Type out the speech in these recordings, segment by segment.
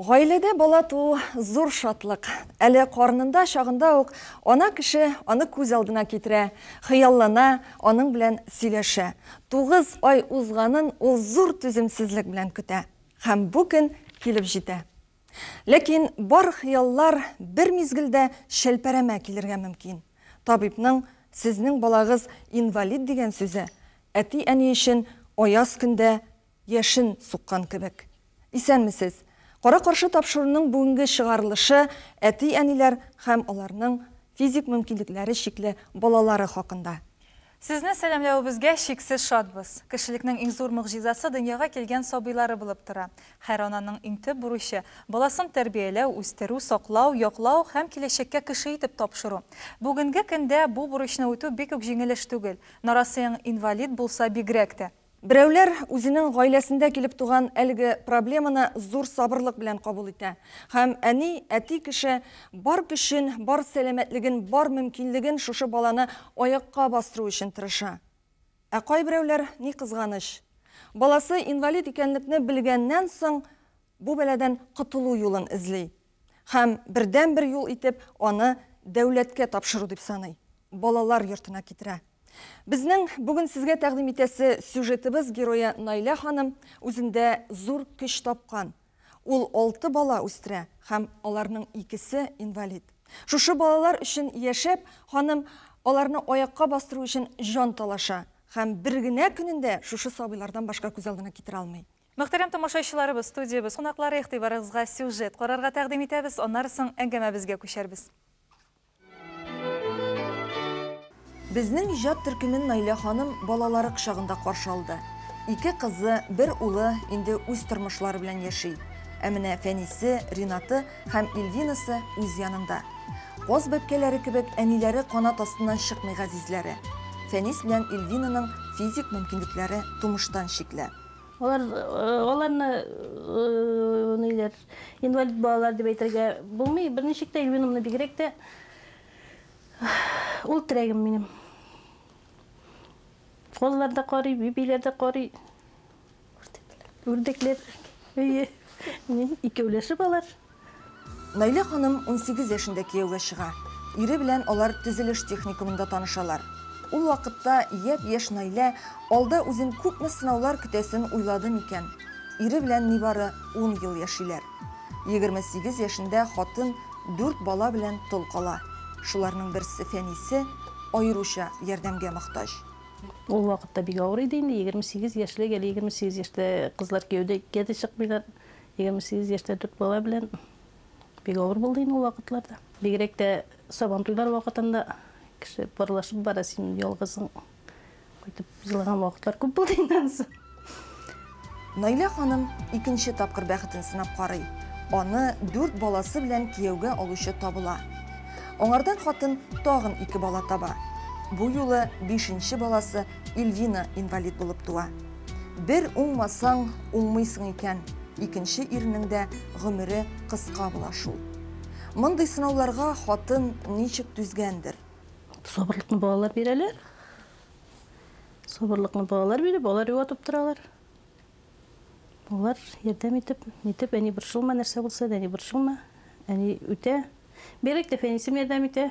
Гаиләдә бала туу зур шатлык. Әле карнында чагында ук ана кеше аны күз алдына китерә, хыяллана, аның белән сөйләшә. Тугыз ай узганын ул зур түземсезлек белән көтә. Һәм бу көн килеп җитә. Ләкин бар хыяллар бер мизгелдә чәлпәрәмә килергә мөмкин. Табибның Сезнең балагыз инвалид дигән сүзе әти-әни өчен аяз көндә яшен суккан кебек. Исәнмесез! Кара-каршы тапшыруның бүгенге чыгарылышы әти-әниләр һәм аларның физик мөмкинлекләре чикле балалары хакында. Сезне сәламләвебезгә чиксез шатбыз. Кешелекнең иң зур могҗизасы дөньяга килгән сабыйлары булып тора. Хәр ананың иң төп бурычы, баласын тәрбияләү, үстерү, саклау, яклау һәм киләчәккә кеше итеп тапшыру. Бүгенге көндә бу бурычны үтү бик үк җиңел эш түгел. Нарасыең инвалид булса бигрәк тә. Берәүләр үзенең гаиләсендә килеп туган әлеге проблеманы зур сабырлык белән кабул итә һәм әни, әти кеше бар көчен, бар сәламәтлеген, бар мөмкинлеген шушы баланы аякка бастыру өчен тырыша. Ә кайберәүләр, ни кызганыч, баласы инвалид икәнлекне белгәннән соң, бу бәладән котылу юлын эзли. һәм бердәнбер юл итеп аны дәүләткә тапшыру дип саный, балалар йортына китерә. Безнең бүген сезгә тәкъдим итәсе сюжетыбыз герое Наилә ханым үзендә зур көч тапкан. Ул алты бала үстерә һәм аларның икесе инвалид. Шушы балалар өчен яшәп, ханым аларны аякка бастыру өчен җан талаша һәм бер генә көнен дә шушы сабыйлардан башка күз алдына китерә алмый. Мөхтәрәм тамашачыларыбыз, студиябез кунаклары игътибарыгызга сюжет карарга тәкъдим итәбез, аннары соң әңгәмәбезгә күчәрбез. Безнең иҗат төркемен Наилә ханым балалары кочагында каршы алды. Ике кызы, бер улы инде үз тормышлары белән яши. Ә менә Фәнисе, Ринаты һәм Ильвинасы үз янында. Каз бәбкәләре кебек әниләре канат астыннан чыкмый газизләре. Фәнис белән Ильвинаның физик мөмкинлекләре тумыштан чикле. Алар аларны ниләр? Инвалид балалар дип әйтергә булмый. Берничек тә Ильвинамны бигрәк тә ул терәгем минем. Коллар да карый, бибиләр дә карый. Үрдәкләр. Үрдәкләр. Әйе. Икәүләшеп алар. Наилә ханым унсигез яшендә кияүгә чыга. Ире белән алар төзелеш техникумында танышалар. Ул вакытта япь-яшь Наилә алда үзен күпме сынаулар көтәсен уйлады микән? Ире белән нибары ун ел яшиләр. Егерме сигез яшендә хатын дүрт бала белән тол кала. Шуларның берсе, Фәнисе, аеруча ярдәмгә мохтаҗ. Ул вакытта бик авыр иде инде, егерме сигез яшьлек, әле егерме сигез яшьтә кызлар кияүгә дә чыкмыйлар. Егерме сигез яшьтә дүрт бала белән бик авыр булды инде ул вакытларда. Бигрәк тә Сабантуйлар вакытында кеше парлашып бара, син ялгызың кайтып җылаган вакытлар күп булды инде анысы. Наилә ханым икенче тапкыр бәхетен сынап карый. Аны дүрт баласы белән кияүгә алучы табыла. Аңардан хатын тагын ике бала таба. Бу юлы бишенче баласы Ильвина инвалид булып туа. Бер уңмасаң, уңмыйсың икән, икенче ирнең дә гомере кыска була шул. Мондый сынауларга хатын ничек түзгәндер? Сабырлыкны балалар бирәләр. Сабырлыкны балалар биреп, балалар юатып торалар. Алар ярдәм итеп, нитеп, әни борчылма, нәрсә булса да, әни борчылма. Әни үтә. Бигрәк тә Фәнисем ярдәм итә.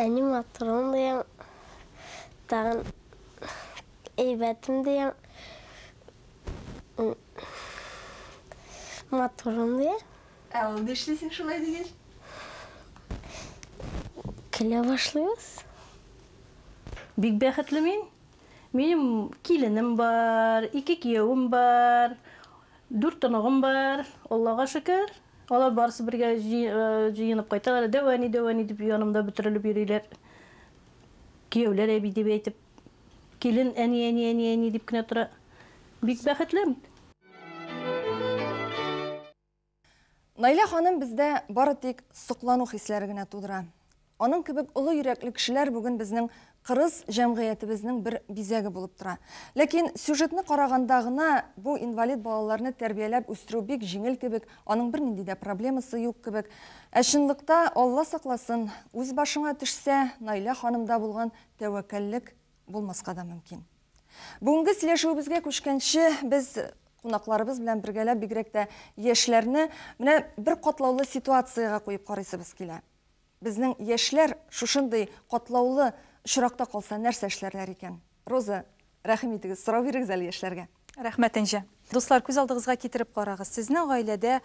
Әни матурым дияң, тагын әйбәтем дияң, матурым дияң. Ә ул нишлисең шулай дигәч? Көлә башлыйбыз. Бик бәхетле мин. Минем киленем бар, ике киявем бар, дүрт оныгым бар, Аллага шөкер. Алар барысы бергә җыенып кайталар. Дәү әни, дәү әни дип янымда бөтерелеп йөриләр. Кияүләр әби дип әйтеп. Килен әни, әни, әни, әни дип кенә тора. Бик бәхетле. Наилә ханым бездә бары тик соклану хисләре генә тудыра. Аның кебек олы йөрәкле кешеләр бүген безнең кырыс җәмгыятебезнең бер бизәге булып тора. Ләкин сюжетны караганда гына бу инвалид балаларны тәрбияләп үстерү бик җиңел кебек, аның бернинди дә проблемасы юк кебек. Ә чынлыкта, Алла сакласын, үз башыңа төшсә, Наилә ханымда булган тәвәккәллек булмаска да мөмкин. Бүгенге сөйләшүебезгә күчкәнче, без кунакларыбыз белән бергәләп бигрәк тә яшьләрне менә бер катлаулы ситуациягә куеп карыйсыбыз килә. Безнең яшьләр шушындый катлаулы очракта калса, нәрсә эшләрләр икән? Роза, рәхим итегез, сорау бирегез әле яшьләргә. Рәхмәт, Энҗе. Дуслар, күз алдыгызга китереп карагыз, сезнең гаиләдә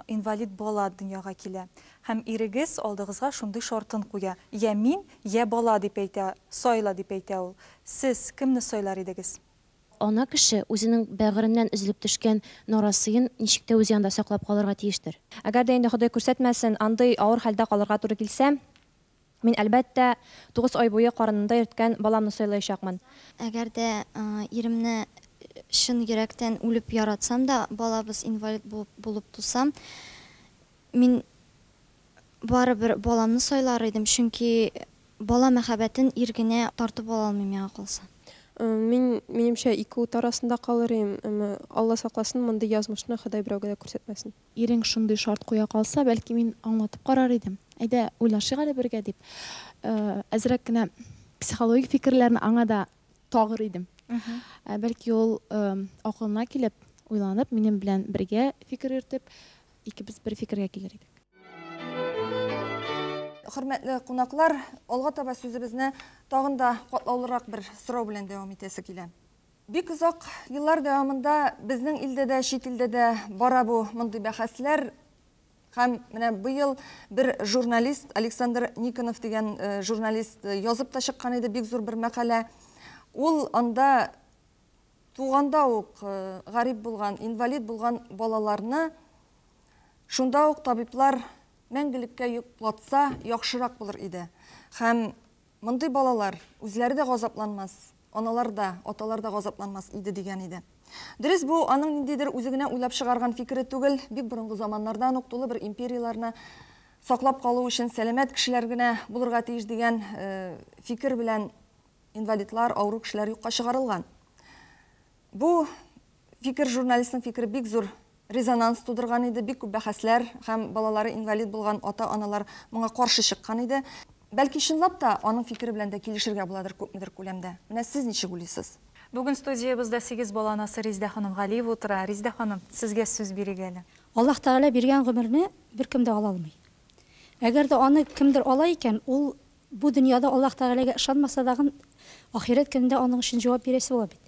инвалид бала дөньяга килә. Һәм ирегез алдыгызга шундый шартын куя, йә мин, йә бала, дип әйтә, сайла, дип әйтә ул. Сез кемне сайлар идегез? Ана кеше үзенең бәгыреннән өзелеп төшкән нарасыен ничек тә үз янында саклап калырга тиештер. Әгәр дә инде Ходай күрсәтмәсен, андый авыр хәлдә калырга туры килсә, мин, әлбәттә, тугыз ай буе карынында йөрткән баламны сайлаячакмын. Әгәр дә иремне чын йөрәктән үлеп яратсам да, балабыз инвалид булып булып тусам, Мин барыбер баламны сайлар идем, чөнки бала мәхәббәтен ир генә тартып ала алмый, миңа калса. Мин, минемчә, ике ут арасында калыр идем, әмма, Алла сакласын, мондый язмышны Ходай берәүгә дә күрсәтмәсен. Ирең шундый шарт куя калса, бәлки, мин аңлатып карар идем. Әйдә, уйлашыйк әле бергә, дип, әзрәк кенә психологик фикерләрне аңа да тагыр идем. Бәлки, ул акылына килеп, уйланып, минем белән бергә фикер йөртеп, Икебез бер фикергә килер идек. Хөрмәтле кунаклар, алга таба сүзебезне тагын да катлаулырак бер сорау белән дәвам итәсе килә. Бик озак еллар дәвамында безнең илдә дә, чит илдә дә бара бу мондый бәхәсләр. Һәм менә быел бер журналист, Александр Никонов дигән журналист язып та чыккан иде бик зур бер мәкалә. Ул анда туганда ук гарип булган, инвалид булган балаларны шунда ук табиблар мәңгелеккә йоклатса, яхшырак булыр иде. Һәм мондый балалар үзләре дә газапланмас, аналар да, аталар да газапланмас иде дигән иде. Дөрес, бу аның ниндидер үзе генә уйлап чыгарган фикере түгел, бик борынгы заманнардан ук тулы бер империяләрне саклап калу өчен сәламәт кешеләр генә булырга тиеш дигән фикер белән Инвалидлар, авыру кешеләр юкка чыгарылган. Бу фикер, журналистның фикере бик зур резонанс тудырган иде, бик күп бәхәсләр һәм балалары инвалид булган ата-аналар моңа каршы чыккан иде. Бәлки, чынлап та, аның фикере белән дә килешергә буладыр күпмедер күләмдә. Менә сез ничек уйлыйсыз? Бүген студиябездә сигез бала анасы Резидә ханым Галиева утыра. Резидә ханым, сезгә сүз бирик әле. Аллаһ Тәгалә биргән гомерне беркем дә ала алмый. Әгәр дә аны кемдер ала икән, ул Бу дөньяда Аллаһ Тәгаләгә ышанмаса дагын, ахирәт көнендә аның өчен җавап бирәсе була бит.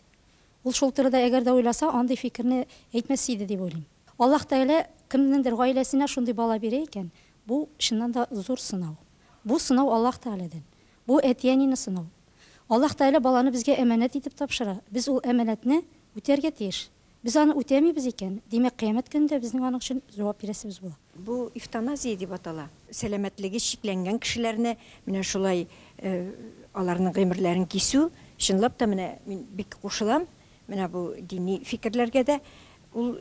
Ул шул турыда әгәр дә уйласа, андый фикерне әйтмәс иде дип уйлыйм. Аллаһ Тәгалә кемнеңдер гаиләсенә шундый бала бирә икән, бу, чыннан да, зур сынау. Бу сынау Аллаһ Тәгаләдән. Бу, әти-әнине сынау. Аллаһ Тәгалә баланы безгә әманәт итеп тапшыра, без ул әманәтне үтәргә тиеш. Без аны үтәмибез икән, димәк, кыямәт көнендә безнең аның өчен җавап бирәсебез була. Бу эвтаназия дип атала. Сәламәтлеге чикләнгән кешеләрне менә шулай аларның гыймерләрен кисү, чынлап та менә мин бик кушылам менә бу дини фикерләргә дә. Ул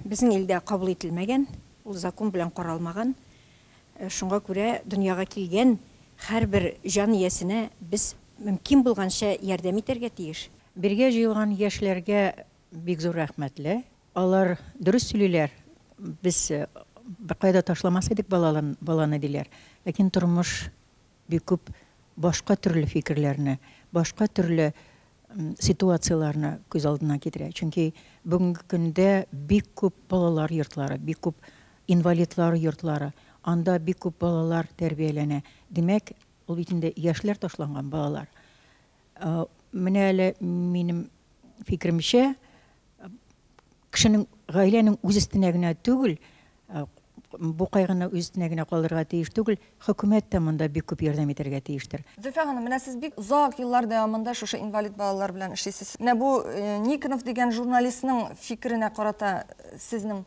безнең илдә кабул ителмәгән, ул закон белән каралмаган. Шуңа күрә дөньяга килгән һәрбер җан иясенә без мөмкин булганча ярдәм итәргә тиеш. Бергә җыелган яшьләргә бик зур рәхмәтле. Алар дөрес сөйлиләр, без беркая да ташламас идек баланы, диләр. Ләкин тормыш бик күп башка төрле фикерләрне, башка төрле ситуацияләрне күз алдына китерә. Чөнки бүгенге көндә бик күп балалар йортлары, бик күп инвалидлар йортлары, анда бик күп балалар тәрбияләнә. Димәк, ул бит инде яшьләр ташланган балалар. Менә әле минем фикеремчә, кешенең гаиләнең үз өстенә генә түгел, бу кайгыны үз өстенә генә калдырырга тиеш түгел, хөкүмәт тә монда бик күп ярдәм итәргә тиештер. Зөлфия ханым, менә сез бик озак еллар дәвамында шушы инвалид балалар белән эшлисез. Менә бу Никонов дигән журналистның фикеренә карата сезнең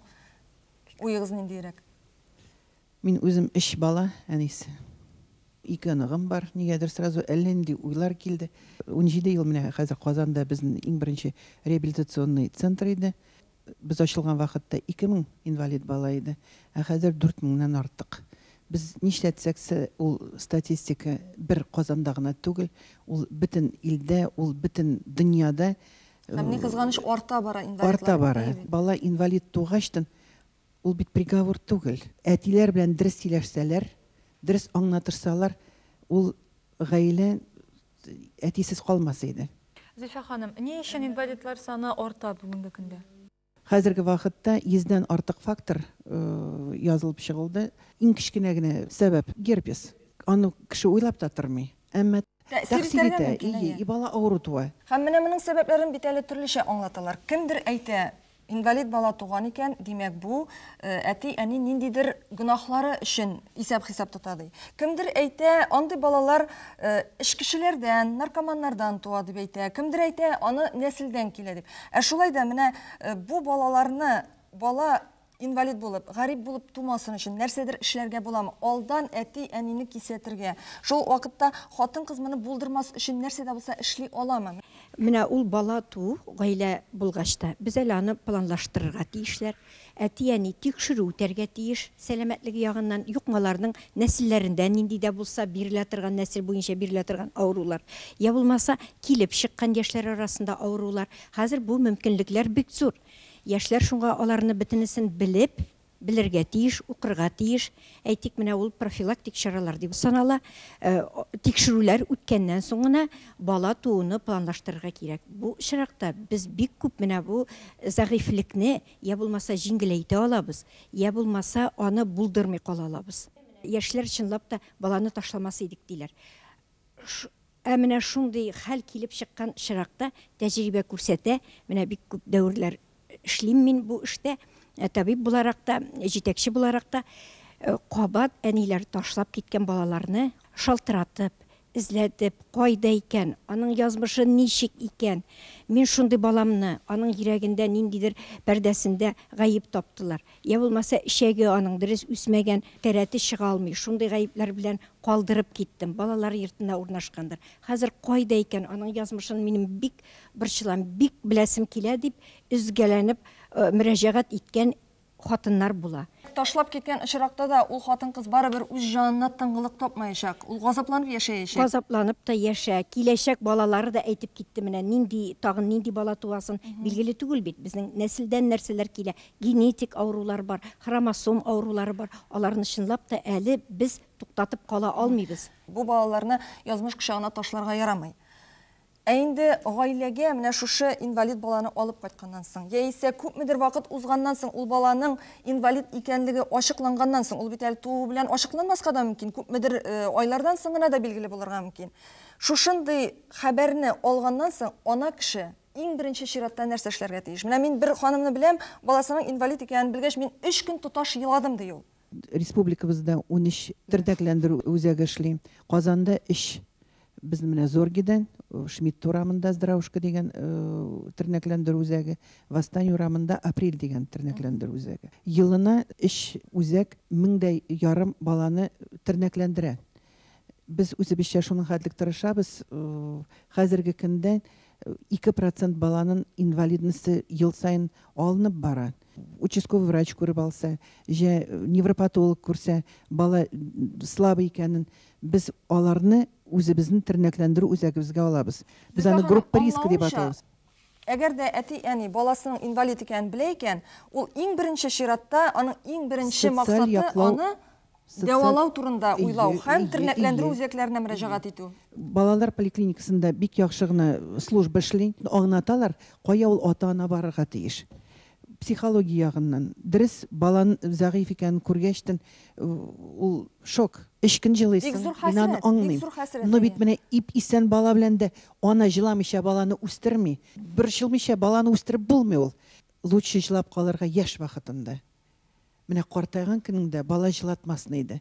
уегыз ниндиерәк? Мин үзем өч бала әнисе. Ике оныгым бар. Нигәдер сразу әллә нинди уйлар килде. Унҗиде ел менә хәзер Казанда безнең иң беренче реабилитационный центр иде. Без ачылган вакытта ике мең инвалид бала иде, ә хәзер дүрт меңнән артык. Без нишләтсәк се, ул статистика бер Казанда гына түгел, ул бөтен илдә, ул бөтен дөньяда. Һәм, ни кызганыч, арта бара инвалидлар. Арта бара. Бала инвалид тугачтын, Ул бит приговор түгел. Әтиләр белән дөрес сөйләшсәләр, дөрес аңнатырсалар, ул гаилә әтисез калмас иде. Зифа ханым, ни өчен инвалидлар саны арта бүгенге көндә? Хәзерге вакытта йөздән артык фактор язылып чыгылды. Иң кечкенә генә сәбәп, герпес. Аны кеше уйлап та тормый. Әмма тәэсир итә, и бала авыру туа. Һәм менә моның сәбәпләрен бит әле төрлечә аңлаталар. Кемдер әйтә, Инвалид бала туган икән, димәк, бу әти-әни ниндидер гөнаһлары өчен исәп-хисап тота, ди. Кемдер әйтә, андый балалар эчкечеләрдән, наркоманнардан туа, дип әйтә. Кемдер әйтә, аны нәселдән килә, дип. Ә шулай да менә бу балаларны, бала инвалид булып, гарип булып тумасын өчен нәрсәдер эшләргә буламы? Алдан әти-әнине кисәтергә, шул вакытта хатын-кыз моны булдырмас өчен нәрсә дә булса эшли аламы? Менә ул бала туу гаилә булгач та, без әле аны планлаштырырга тиешләр. Әти-әни тикшерү үтәргә тиеш, сәламәтлеге ягыннан, йокмаларның нәселләрендә нинди дә булса бирелә торган, нәсел буенча бирелә торган авырулар, я булмаса, килеп чыккан яшьләр арасында авырулар. Хәзер бу мөмкинлекләр бик зур. Яшьләр шуңа аларны бөтенесен белеп, белергә тиеш, укырга тиеш, әйтик, менә ул профилактик чаралар дип санала, тикшерүләр үткәннән соң гына бала тууны планлаштырырга кирәк. Бу очракта без бик күп менә бу зәгыйфьлекне йә булмаса җиңеләйтә алабыз, йә булмаса аны булдырмый кала алабыз. Яшьләр чынлап та баланы ташламас идек диләр. Ә менә шундый хәл килеп чыккан очракта, тәҗрибә күрсәтә, менә бик күп дәверләр эшлим мин бу эштә, табиб буларак та, җитәкче буларак та, кабат әниләр ташлап киткән балаларны шалтыратып, эзләтеп, кайда икән, аның язмышы ничек икән, мин шундый баламны, аның йөрәгендә, ниндидер пәрдәсендә гаеп таптылар. Йә булмаса, эчәге аның дөрес үсмәгән, тәрәте чыга алмый, шундый гаепләр белән калдырып киттем. Балалар йортына урнашкандыр. Хәзер кайда икән, аның язмышын минем бик борчылам, бик беләсем килә, дип өзгәләнеп мөрәҗәгать иткән хатыннар була. Ташлап киткән очракта да ул хатын-кыз барыбер үз җанына тынгылык тапмаячак, ул газапланып яшәячәк. Газапланып та яшә, киләчәк балалары да әйтеп китте менә, нинди, тагын нинди бала туасын, билгеле түгел бит, безнең нәселдән нәрсәләр килә, Генетик авырулар бар, хромосом авырулары бар. Аларны чынлап та әле без туктатып кала алмыйбыз. Бу балаларны язмыш кочагына ташларга ярамый. Ә инде гаиләгә менә шушы инвалид баланы алып кайтканнан соң, яисә күпмедер вакыт узганнан соң, ул баланың инвалид икәнлеге ачыкланганнан соң, ул бит әле туу белән ачыкланмаска да мөмкин, күпмедер айлардан соң гына да билгеле булырга мөмкин. Шушындый хәбәрне алганнан соң, ана кеше, Иң беренче чиратта нәрсә эшләргә тиеш? Менә мин бер ханымны беләм, баласының инвалид икәнен белгәч, мин өч көн тоташ еладым, ди ул. Республикабызда унөч тернәкләндерү үзәге эшли. Казанда өч. Безнең менә Зоргедан, Шмидт урамында Здравушка дигән тернәкләндерү үзәге, Восстание урамында Апрель дигән тернәкләндерү үзәге. Елына өч үзәк меңдәй ярым баланы тернәкләндерә. Без үзебезчә шуның хәтлек тырышабыз. Хәзерге көндә 2 процент баланын инвалидности ел саен алынып бара. Участковый врач күреп алса, җә невропатолог күрсә, бала слабый икәнен, без аларны үзебезнең тернәкләндерү үзәгебезгә алабыз. Без аны группа риска дип атыйбыз. Әгәр дә әти-әни баласының инвалид икәнен белә икән, ул иң беренче чиратта аның иң беренче максаты аны Дәвалау турында уйлау һәм тернәкләндерү үзәкләренә мөрәҗәгать итү. Балалар поликлиникасында бик яхшы гына служба эшли, аңлаталар, кая ул ата-ана барырга тиеш. Психология ягыннан, дөрес, бала зәгыйфь икәнен күргәчтен, ул шок. Өч көн җылыйсың, мин аны аңлыйм. Ну бит менә ип-исән бала белән дә ана җыламыйча баланы үстерми. Борчылмыйча баланы үстереп булмый ул. Лучше җылап калырга яшь вакытымда. Менә картайган көнеңдә бала җылатмасын иде.